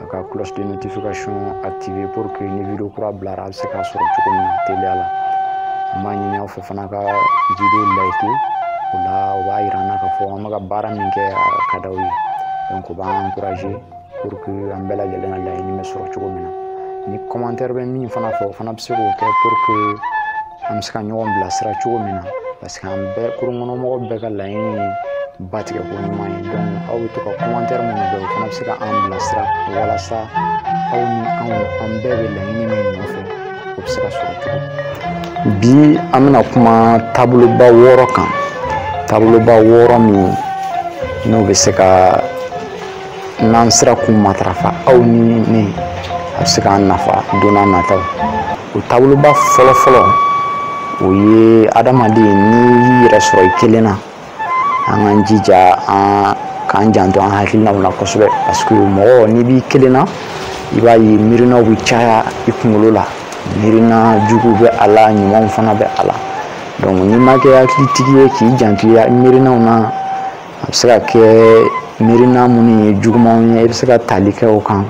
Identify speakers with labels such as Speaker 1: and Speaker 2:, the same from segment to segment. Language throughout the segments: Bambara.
Speaker 1: a ka cloche de notification activer pour que ni video kura bilara a bɛ se k'a sɔrɔ cogo min na teliya la n b'a ɲini aw fɛ fana ka video like o la o b'a yira an na k'a fɔ an bɛ ka baara min kɛ a ka d'aw ye donc o b'an encourager pour que an bɛɛ lajɛlen ka laɲini bɛ sɔrɔ cogo min na ni commentaire bɛ min fana fɛ o fana bɛ se k'o kɛ pour que an bɛ se ka ɲɔgɔn bilasira cogo min na parce que an bɛɛ kurun kɔnɔ mɔgɔ bɛɛ ka laɲini ye ba tigɛ ko ɲuman ye donc aw bɛ to ka commentaire minnu kɛ o fana bɛ se ka an bilasira walasa aw ni anw an bɛɛ bɛ laɲini min nɔfɛ o bɛ se ka sɔrɔ cogo bi an bɛna kuma taaboloba wɔɔrɔ kan taaboloba wɔɔrɔ min n'o bɛ se ka n'an sera k'u matarafa aw ni ne a bɛ se k'an nafa don n'a nataw o taaboloba fɔlɔ fɔlɔ o ye adamaden n'i y'i yɛrɛ sɔrɔ i kelen na an k'an jija an k'an janto an hakilinaw la kosɛbɛ parce que mɔgɔ n'i b'i kelen na i b'a ye miirinaw bɛ caya i kunkolo la miirina jugu bɛ a la ɲumanw fana bɛ a la donc n'i ma kɛ hakilitigi ye k'i janto i miirinaw na a bɛ se ka kɛ miirina minnu ye jugumanw ye i bɛ se ka tali kɛ o kan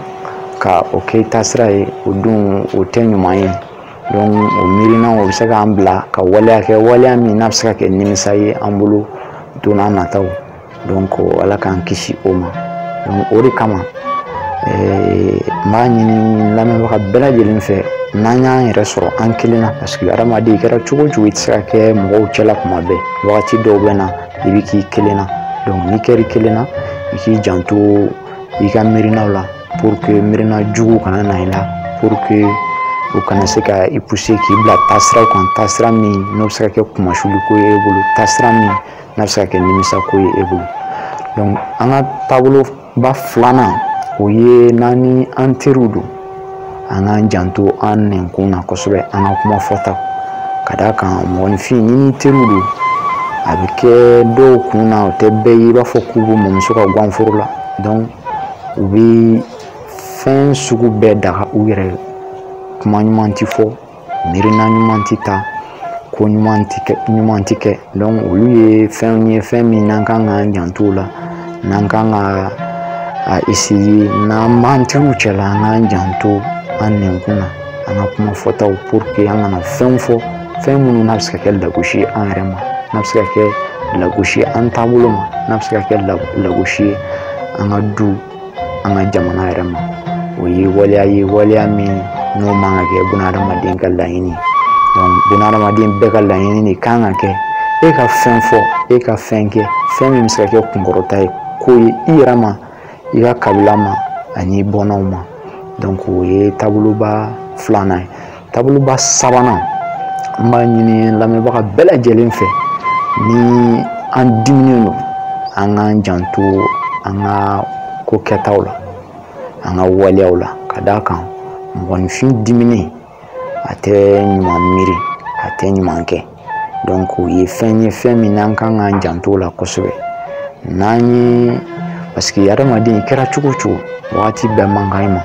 Speaker 1: ka o kɛ i taasira ye o dun o tɛ ɲuman ye donc o miirinaw o bɛ se k'an bila ka waleya kɛ waleya min n'a bɛ se ka kɛ nimisa ye an bolo don n'a nataw donc ala k'an kisi o ma donc o de kama eh, n b'a ɲini lamɛnbaga bɛɛ lajɛlen fɛ n'an y'an yɛrɛ sɔrɔ an kelen na parce que hadamaden i kɛra cogo o cogo i tɛ se ka kɛ mɔgɔw cɛla kuma bɛɛ wagati dɔw bɛ na i bɛ k'i kelen na donc n'i kɛr'i kelen na i k'i janto i ka miirinaw la pour que miirina jugu kana na i la pour que u kana se ka i pousser k'i bila taasiraw kan taasira min n'o bɛ se ka kɛ kunmasuli ko ye e bolo taasira min n'a bɛ se ka kɛ nimisa ko ye e bolo donc an ka taabolo ba filanan o ye n'an ni an teriw don an k'an janto an nɛnkun na kosɛbɛ an ka kuma fɔta ka d'a kan mɔgɔninfin n'i n'i teriw don a bɛ kɛ dɔw kun na o tɛ bɛɛ ye i b'a fɔ k'u b'u mɔmuso ka gwanforo la donc u bɛ fɛn sugu bɛɛ daga u yɛrɛ kuma ɲuman tɛ fɔ miirina ɲuman tɛ ta ko ɲuman tɛ kɛ donc olu ye fɛnw ye fɛn min n'an kan k'an janto o la n'an kan k'a essayer n'an b'an teriw cɛla an k'an janto an nɛnkun na an ka kuma fɔtaw pour que an kana fɛnw fɔ fɛn minnu n'a bɛ se ka kɛ lagosi ye an yɛrɛ ma n'a bɛ se ka kɛ lagosi ye an taabolo ma n'a bɛ se ka kɛ lagosi ye an ka du an ka jamana yɛrɛ ma o ye waleya ye waleya min n'o man ka kɛ bunahadamaden ka laɲini bunahadamaden bɛɛ ka laɲini de kan ka kɛ e ka fɛn fɔ e ka fɛn kɛ fɛn min bɛ se ka kɛ kunkɔrɔta ye ko ye i yɛrɛ ma i ka kabila ma ani bɔnnaw ma donc o ye taaboloba filanan ye taaboloba sabanan an b'a ɲini lamɛnbaga bɛɛ lajɛlen fɛ ni an diminen don an k'an janto an ka ko kɛtaw la an ka waleyaw la ka d'a kan mɔgɔninfin diminen a tɛ ɲuman miiri a tɛ ɲuman kɛ donc o ye fɛn ye fɛn min n'an kan k'an janto la kosɛbɛ n'an ye parce que adamaden kɛra cogo o cogo wagati bɛɛ man kan i ma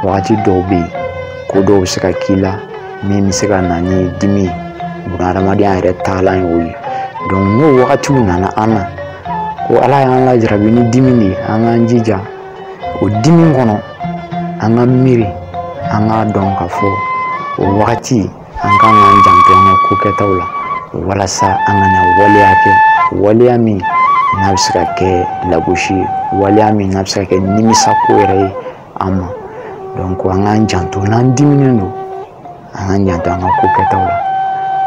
Speaker 1: wagati dɔw bɛ yen ko dɔw bɛ se ka k'i la min bɛ se ka na ni dimi ye buna hadamadenya yɛrɛ taalan ye o ye donc n'o wagatiw nana an na ko ala y'an lajarabi ni dimi de ye an k'an jija o dimi kɔnɔ an ka miiri an k'a dɔn ka fɔ o wagati an ka kan k'an janto an ka ko kɛtaw la walasa an kana waleya kɛ waleya min n'a bɛ se ka kɛ lagosi ye waleya min n'a bɛ se ka kɛ nimisa ko yɛrɛ ye an ma donc an k'an janto n'an diminen don an k'an janto an ka ko kɛtaw la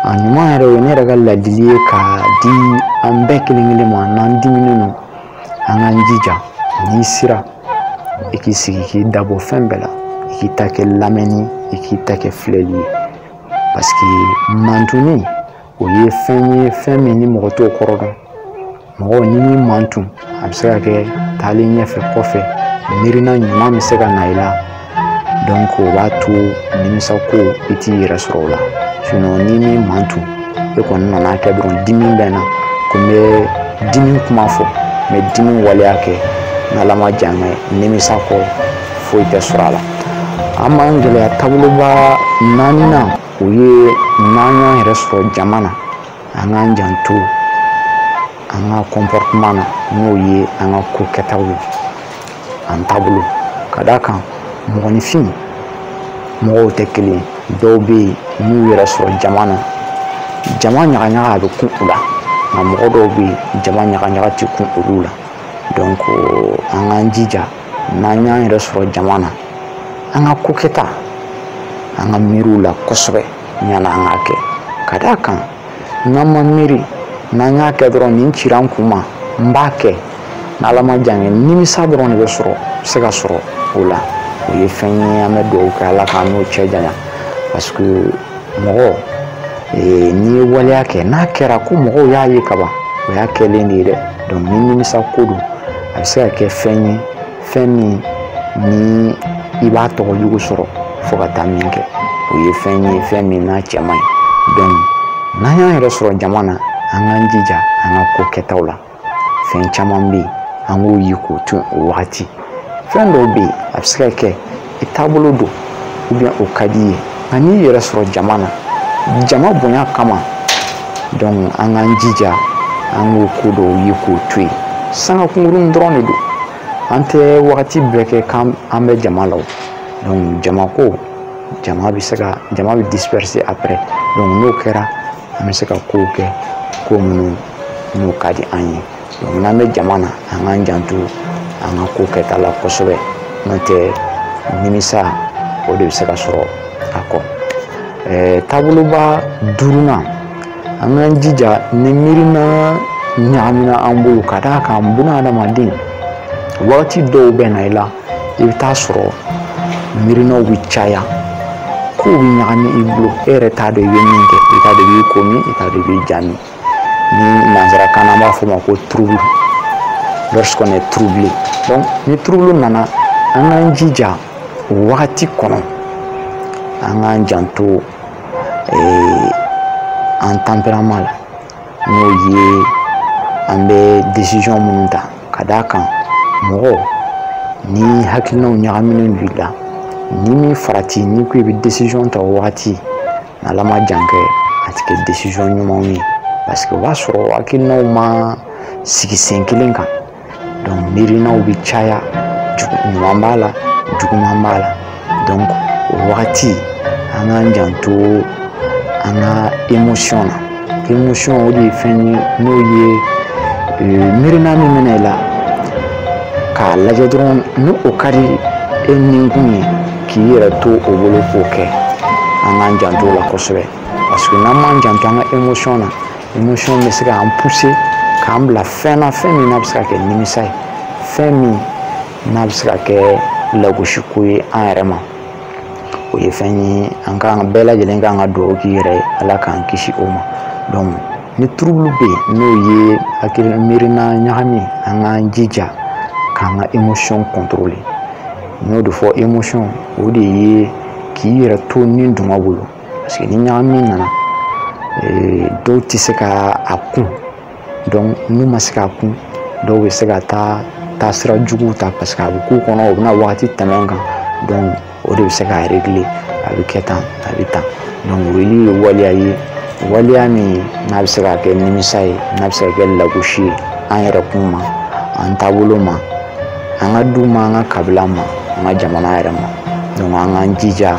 Speaker 1: a ɲuman yɛrɛ o ye ne yɛrɛ ka ladili ye ka di an bɛɛ kelen kelen ma n'an diminen don an k'an jija n'i sera i k'i sigi k'i dabɔ fɛn bɛɛ la i k'i ta kɛ lamɛnni i k'i ta kɛ filɛli ye parce que mantuni o ye fɛn ye fɛn min ni mɔgɔ t'o kɔrɔ dɔn mɔgɔ n'i y'i mantun a bɛ se ka kɛ taalen ɲɛfɛ kɔfɛ miirina ɲuman bɛ se ka na i la donc o b'a to nimisa ko i t'i yɛrɛ sɔrɔ o la sinon n'i m'i mantun i kɔni nana kɛ dɔrɔn dimi bɛ na ko n bɛ dimi kuma fɔ n bɛ dimi waleya kɛ n'ala ma jan kɛ nimisa kɔ foyi tɛ sɔrɔ a la an b'an gɛlɛya taaboloba naaninan o ye n'an y'an yɛrɛ sɔrɔ jama na an k'an janto an ka comportement na n'o ye an ka ko kɛtaw ye an taabolo ka d'a kan mɔgɔninfin mɔgɔw tɛ kelen ye dɔw bɛ yen n'u yɛrɛ sɔrɔ jama na jama ɲagaɲaga a bɛ kun u la nka mɔgɔ dɔw bɛ yen jama ɲagaɲaga tɛ kun olu la donc an k'an jija n'an y'an yɛrɛ sɔrɔ jama na an ka ko kɛta an ka miiri u la kosɛbɛ yan'an k'a kɛ ka d'a kan n'an ma miiri n'an y'a kɛ dɔrɔn nin cira n kun ma n b'a kɛ n'ala ma jan kɛ nimisa dɔrɔn de bɛ sɔrɔ se ka sɔrɔ o la o ye fɛn ye an bɛ dugawu kɛ ala k'an n'o cɛ janya parce que mɔgɔ eh, n'i ye waleya kɛ n'a kɛra ko mɔgɔw y'a ye kaban o y'a kɛlen de ye dɛ donc ni nimisa ko don a bɛ se ka kɛ fɛn ye fɛn min ni i b'a tɔgɔ jugu sɔrɔ fo ka taa min kɛ o ye fɛn ye fɛn min n'a cɛ man ɲi donc n'an y'an yɛrɛ sɔrɔ jama na an k'an jija an ka ko kɛtaw la fɛn caman bɛ yen an k'o ye k'o to yen o wagati fɛn dɔw bɛ yen a bɛ se ka kɛ i taabolo don ou bien o ka di i ye nka n'i yɛrɛ sɔrɔ jama na jama bonya kama donc an k'an jija an k'o ko dɔw ye k'o to yen sanga kunkurun dɔrɔn de don an tɛ wagati bɛɛ kɛ k'an bɛ jama la o donc jama ko jama bɛ se ka jama bɛ disperser après donc n'o kɛra an bɛ se ka kow kɛ ko minnu n'o ka di an ye n'an bɛ jama na an k'an janto an ka ko kɛta la kosɛbɛ n'o tɛ nimisa o de bɛ se ka sɔrɔ a kɔ taaboloba duurunan an k'an jija ni miirina ɲagamina an bolo ka d'a kan buna adamaden wagati dɔw bɛ na i la i bɛ taa sɔrɔ miirinaw bɛ caya kow bɛ ɲagami i bolo e yɛrɛ t'a dɔn i bɛ min kɛ i t'a dɔn i b'i ko min i t'a dɔn i b'i ja min ni nansarakan na an b'a fɔ o ma ko trouble lorsqu'on est troublé donc ni trouble nana an k'an jija o wagati kɔnɔ an k'an janto eh, an tempérament la n'o ye an bɛ décision minnu ta ka d'a kan mɔgɔ ni hakilinaw ɲagaminen don i la n'i b'i farati n'i ko i bɛ décision ta o wagati ala ma jan kɛ a tɛ kɛ décision ɲumanw ye parce que o b'a sɔrɔ hakilinaw ma sigi sen kelen kan donc miirinaw bɛ caya ɲuman b'a la juguman b'a la donc o wagati an k'an janto an ka émotion na émotion o de ye fɛn ye n'o ye miirina min bɛ na i la k'a lajɛ dɔrɔn ni o ka di e ninkun ye k'i yɛrɛ to o bolo k'o kɛ an k'an janto o la kosɛbɛ parce que n'an m'an janto an ka émotion na émotion bɛ se k'an pousser k'an bila fɛn na fɛn min n'a bɛ se ka kɛ nimisa ye fɛn min n'a bɛ se ka kɛ lagosiko ye an yɛrɛ ma o ye fɛn ye an kan bɛɛ lajɛlen ka kan ka dugawu k'i yɛrɛ ye ala k'an kisi o ma donc ni trouble bɛ yen n'o ye hakili miirina ɲagami an k'an jija k'an ka émotion contrôler n y'o de fɔ émotion o de ye k'i yɛrɛ to ni duman bolo parce que ni ɲagami nana dɔw tɛ se k'a kun donc n'u ma se k'a kun dɔw bɛ se ka taa taasira juguw ta parce que a bɛ k'u kɔnɔ u bɛna wagati tɛmɛn kan donc o de bɛ se k'a réglé a bɛ kɛ tan a bɛ tan donc o ye waleya ye waleya min n'a bɛ se ka kɛ nimisa ye n'a bɛ se ka kɛ lagosi ye an yɛrɛkun ma an taabolo ma an ka du ma an ka kabila ma an ka jamana yɛrɛ ma donc an k'an jija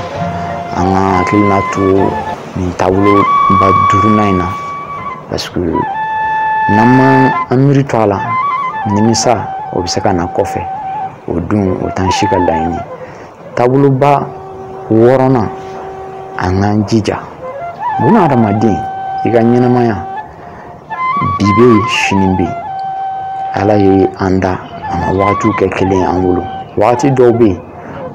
Speaker 1: an ka hakilina to nin taabolo ba duurunan in na parce que n'an ma an miiri to a la nimisa o bɛ se ka na kɔfɛ o dun o t'an si ka laɲini taaboloba wɔɔrɔnan an k'an jija buna adamaden i ka ɲɛnamaya bi bɛ yen sini bɛ yen ala ye an da a ma wagatiw kɛ kelen ye an bolo wagati dɔw bɛ yen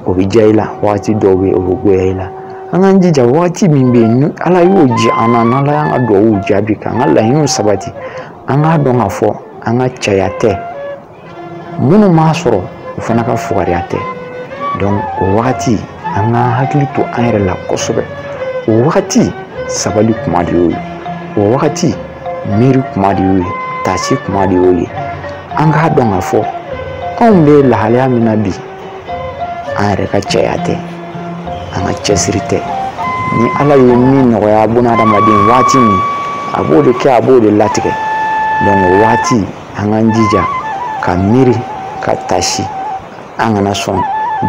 Speaker 1: o bɛ diya i la wagati dɔw bɛ yen o bɛ goya i la an k'an jija wagati min bɛ yen ni ala y'o diya an na n'ala y'an ka dugawu jaabi k'an ka laɲiniw sabati an k'a dɔn k'a fɔ an ka cɛya tɛ minnu m'a sɔrɔ u fana ka fugariya tɛ donc o wagati an ka hakili to an yɛrɛ la kosɛbɛ o wagati sabali kuma de y'o ye o wagati miiri kuma de y'o ye taasi kuma de y'o ye an k'a dɔn k'a fɔ anw bɛ lahalaya min na bi an yɛrɛ ka cɛya tɛ an ka cɛsiri tɛ ni ala ye min nɔgɔya bunahadamaden waati min a b'o de kɛ a b'o de latigɛ donc o waati an k'an jija ka miiri ka taasi an kana sɔn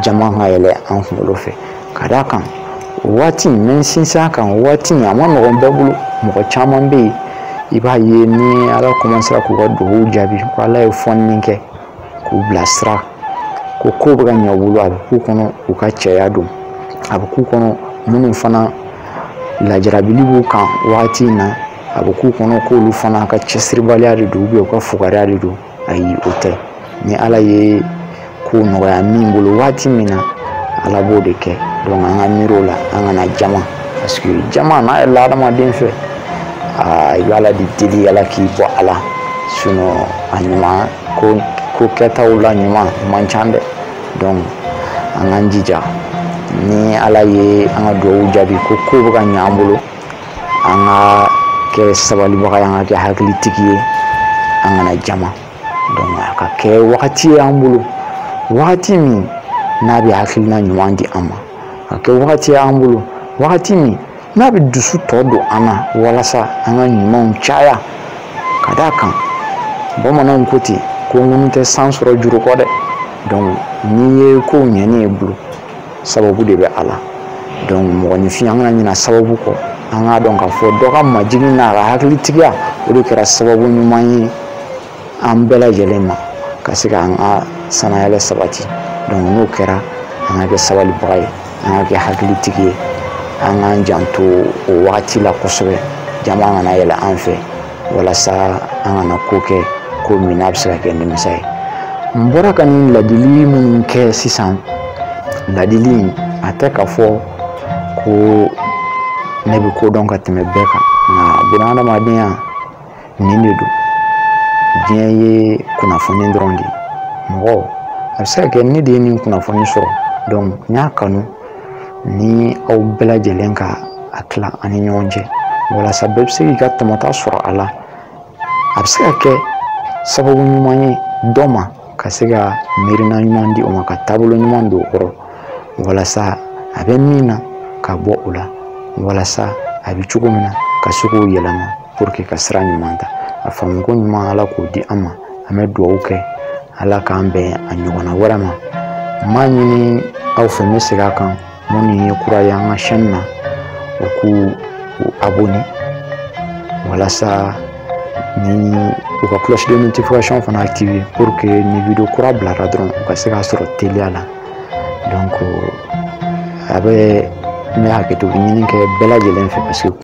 Speaker 1: jama ka yɛlɛ an kunkolo fɛ ka d'a kan waati n bɛ sinsin a kan waati a man nɔgɔn bɛɛ bolo mɔgɔ caman bɛ yen i b'a ye ni ala kɔmansera k'u ka dugawu jaabi ko ala ye fɔnni kɛ k'u bilasira ko kow bɛ ka ɲɛ u bolo a bɛ k'u kɔnɔ u ka cɛya don a bɛ k'u kɔnɔ minnu fana lajarabili b'u kan wagati in na a bɛ k'u kɔnɔ k'olu fana ka cɛsiribaliya de don u ka fugariya de don ayi o tɛ ni ala ye ko nɔgɔya min bolo waati min na ala b'o de kɛ donc an ka miiri o la an kana jama parce que jama n'a yɛlɛla adamaden fɛ aa i bɛ ala de deli ala k'i bɔ a la sinɔn a ɲuman ko ko kɛtaw la ɲuman man ca dɛ donc an k'an jija ni ala ye an ka dugawu jaabi ko kow bɛ ka ɲɛ an bolo an ka kɛ sabalibaga ye an ka kɛ hakilitigi ye an kana jama donc a ka kɛ wagati ye an bolo wagati min n'a bɛ hakilina ɲuman di an ma a ka kɛ wagati y'an bolo wagati min n'a bɛ dusu tɔ don an na walasa an ka ɲumanw caya ka d'a kan bamananw ko ten ko ŋunu tɛ san sɔrɔ juru kɔ dɛ donc n'i ye kow ɲɛnen y'i bolo sababu de bɛ a la donc mɔgɔninfin an kana ɲina sababu kɔ an k'a dɔn k'a fɔ dɔ ka majigin n'a ka hakilitigiya o de kɛra sababu ɲuman ye an bɛɛ lajɛlen ma ka se k'an ka sanayɛlɛ sabati donc n'o kɛra an ka kɛ sabalibaga ye an ka kɛ hakilitigi ye an k'an janto o wagati la kosɛbɛ jama kana yɛlɛ an fɛ walasa an kana ko kɛ ko min n'a bɛ se ka kɛ nimisa ye n bɔra ka nin ladili min kɛ sisan ladili in a tɛ k'a fɔ ko ne bɛ ko dɔn ka tɛmɛ bɛɛ kan nka bunadamadenya nin de don diɲɛ ye kunnafoni dɔrɔn de ye mɔgɔ a bɛ se ka kɛ ne de ye nin kunnafoni sɔrɔ n y'a kanu ni aw bɛɛ lajɛlen ka a tila an ni ɲɔgɔn cɛ walasa bɛɛ bɛ se k'i ka tɔmɔta sɔrɔ a la a bɛ se ka kɛ sababu ɲuman ye dɔ ma ka se ka miirina ɲuman di o ma ka taabolo ɲuman don o kɔrɔ walasa a bɛ min na ka bɔ o la walasa a bɛ cogo min na ka se k'o yɛlɛma pour que ka sira ɲuman ta a faamuko ɲuman ala k'o di an ma an bɛ dugawu kɛ ala k'an bɛn a ɲɔgɔnna wɛrɛ ma m'a ɲini aw fɛ n bɛ segin a kan minnu ye kura ye an ka chaîne na u k'u abonné walasa ni u ka cloche de notification fana activé pour que ni vidéo kura bilara dɔrɔn u ka se k'a sɔrɔ teliya la donc a bɛ n bɛ hakɛto ɲini kɛ bɛɛ lajɛlen fɛ parce que